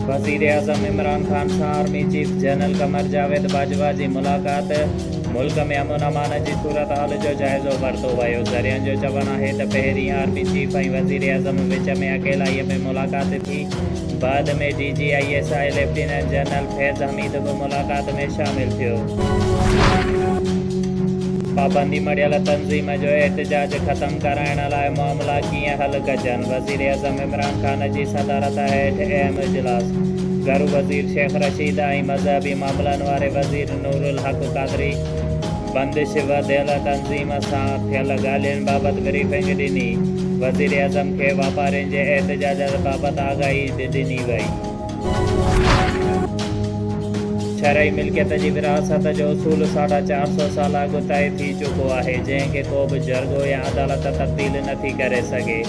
وزيراعظم عمران خان سان army chief general Qamar Javed Bajwa جي ملاقات، ملڪ ۾ امن امان جي صورتحال جو جائزو ورتو ويو، ذريعن جو چوڻ آهي ته پهرين آرمي چيف ۽ وزيراعظم وچ ۾ اڪيلائيء ۾ ملاقات ٿي، بعد ۾ D G I S I lieutenant general Faiz Hameed به ملاقات ۾ شامل ٿيو. پابندي مڙهيل تنظيم جو احتجاج ختم ڪرائڻ لاء معاملا ڪيئن حل ڪجن، وزيراعظم عمران خان جي صدارت هيٺ اهم اجلاس، گهرو وزير شيخ رشيد ۽ مذهبي معاملن واري وزير نورالحق قادري بندش وڌيل تنظيم سان ٿيل ڳالهين بابت بريفنگ ڏني، وزيراعظم کي واپارين جي احتجاجات بابت آگاهي به ڏني وئي. شرعي ملڪيت جي ورهاست جو اصول ساڍا چار سؤ سال اڳ طئي ٿي چڪو آهي، جنهن کي ڪو به جرڳو يا عدالت تبديل نه ٿي ڪري سگهي.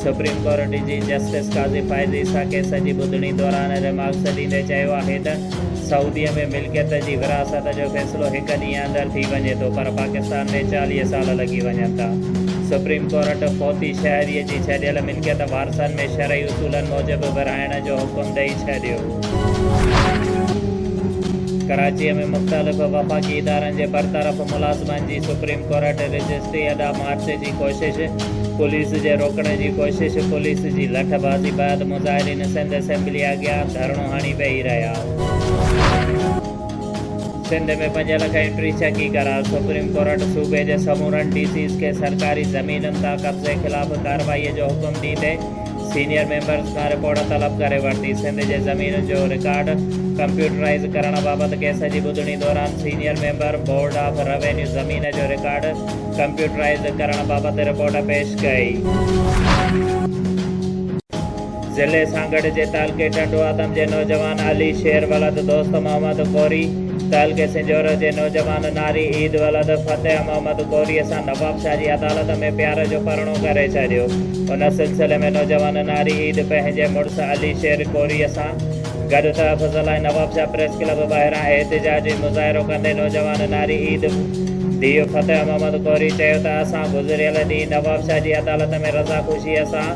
سپريم ڪورٽ جي جسٽس قاضي فائز عيسيٰ ڪيس جي ٻڌڻي دوران ريمارڪس ڏيندي چيو آهي ته سعودي ۾ ملڪيت جي ورهاست جو فيصلو هڪ ڏينهن اندر ٿي وڃي ٿو پر پاڪستان ۾ چاليهه سال لڳي وڃن ٿا. سپريم ڪورٽ فوتي شهري جي ڇڏيل ملڪيت وارثن ۾ شرعي اصولن موجب ورهائڻ جو حڪم ڏئي ڇڏيو. ڪراچيء ۾ مختلف وفاقي ادارن جي برطرف ملازمن جي سپريم ڪورٽ رجسٽري اڏا مارچ جي ڪوشش، پوليس جي روڪڻ جي ڪوشش، پوليس جي لٺ بازي بعد مظاهرين سنڌ اسيمبليء اڳيان ڌرڻو هڻي ويهي رهيا. سنڌ ۾ پنج لک ۽ ٽي ڇڪي قرار، سپريم ڪورٽ صوبي جي سمورن ڊي سيز کي سرڪاري زمينن تان قبضي خلاف ڪارروائي جو حڪم ڏيندي سينيئر ميمبرز کان رپورٽ طلب ڪري ورتي، سنڌ جي زمينن جو رڪارڊ ڪمپيوٽرائيز ڪرڻ بابت ڪيس جي ٻڌڻي دوران senior member board of revenue زمين جو رڪارڊ ڪمپيوٽرائيز ڪرڻ بابت رپورٽ پيش ڪئي. ضلعي سانگهڙ جي تعلقي ٽنڊو آدم جي نوجوان علي شير ولد دوست محمد ڪوري، تعلقي سنجهورو جي نوجوان ناري عيد ولد فتح محمد ڪوريء سان نوابشاهه جي عدالت ۾ پيار جو پرڻو ڪري ڇڏيو. ان سلسلي ۾ نوجوان ناري عيد پنهنجي مڙس علي شير ڪوريء سان گڏ تحفظ لاء نوابشاهه پريس ڪلب ٻاهران احتجاجي مظاهرو ڪندي نوجوان ناري عيد ڌيء فتح محمد ڪوري چيو ته اسان گذريل ڏينهن نوابشاهه جي عدالت ۾ رضاخوشيء سان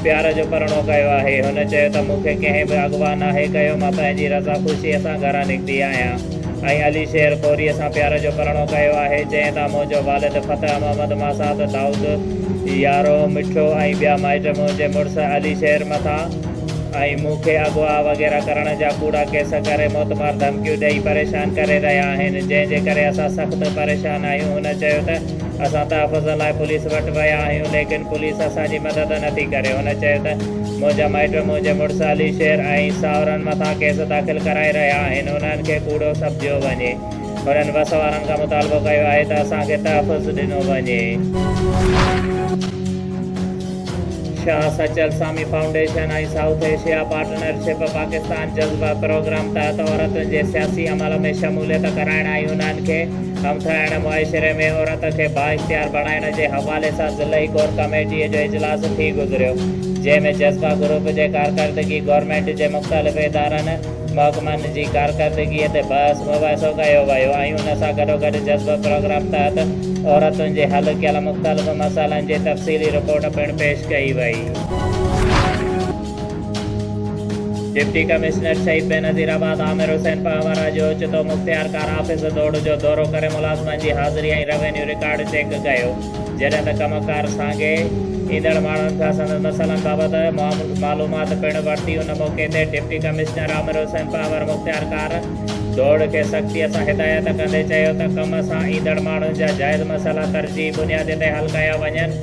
پيار جو پرڻو ڪيو آهي. هن چيو ته مون کي ڪنهن به اغوا ناهي ڪيو، مان پنهنجي رضا خوشيء سان گهران نڪتي آهيان ۽ علي شير خوريء سان پيار جو پرڻو ڪيو آهي، جنهن تان منهنجو والد فتح محمد ماسات، دائود يارو مٺو ۽ ٻيا مائٽ منهنجي مڙس علي شير مٿان ۽ مون کي اغوا وغيره ڪرڻ جا ڪوڙا ڪيس ڪري موتمار ڌمڪيون ڏئي پريشان ڪري رهيا آهن، جنهن جي ڪري اسان سخت پريشان آهيون، هن چيو ته. اسان تحفظ لاء پوليس وٽ ويا آهيون ليڪن پوليس اسان جي مدد نه ٿي ڪري. هن چيو ته منهنجا مائٽ منهنجي مڙس علي شير ۽ ساهرن مٿان ڪيس داخل ڪرائي رهيا آهن انهن کي ڪوڙو سمجهيو وڃي. هنن وس وارن کان مطالبو ڪيو آهي ته اسان کي تحفظ ڏنو وڃي. Shah Sachal Sami foundation ۽ south Asia partnership Pakistan جذبه پروگرام تحت عورتن جي سياسي عمل ۾ شموليت ڪرائڻ ۽ انهن کي سمٿرائڻ معاشري ۾ عورت کي بااختيار بڻائڻ جي حوالي سان ضلعي ڪور ڪميٽي جو اجلاس ٿي گذريو جنهن ۾ جذبه گروپ جي ڪارڪردگي گورنمينٽ جي مختلف ادارن محڪمن جي ڪارڪردگي تي بحث مباحثو ڪيو ويو ۽ ان سان گڏوگڏ جذبه پروگرام تحت عورتن جي حل ڪيل مختلف مسئلن جي تفصيلي رپورٽ پڻ پيش ڪئي وئي. ڊپٽي ڪمشنر شهيد بينظير آباد عامر حسين پهوارا جو اوچتو مختيارڪار آفيس دوڙ جو دورو ڪري ملازمن جي حاضري ۽ روينيو رڪارڊ چيڪ ڪيو جڏهن ته ڪم ڪار سانگي ايندڙ ماڻهن کان سندن مسئلن بابت معلومات پڻ ورتي ان موقعي تي ڊپٽي ڪمشنر عامر حسين پهوارا مختيارڪار دوڙ کي سختي سان هدايت ڪندي چيو ته ڪم سان ايندڙ ماڻهن جا جائز مسئلا ترجيحي بنياد تي حل ڪيا وڃن.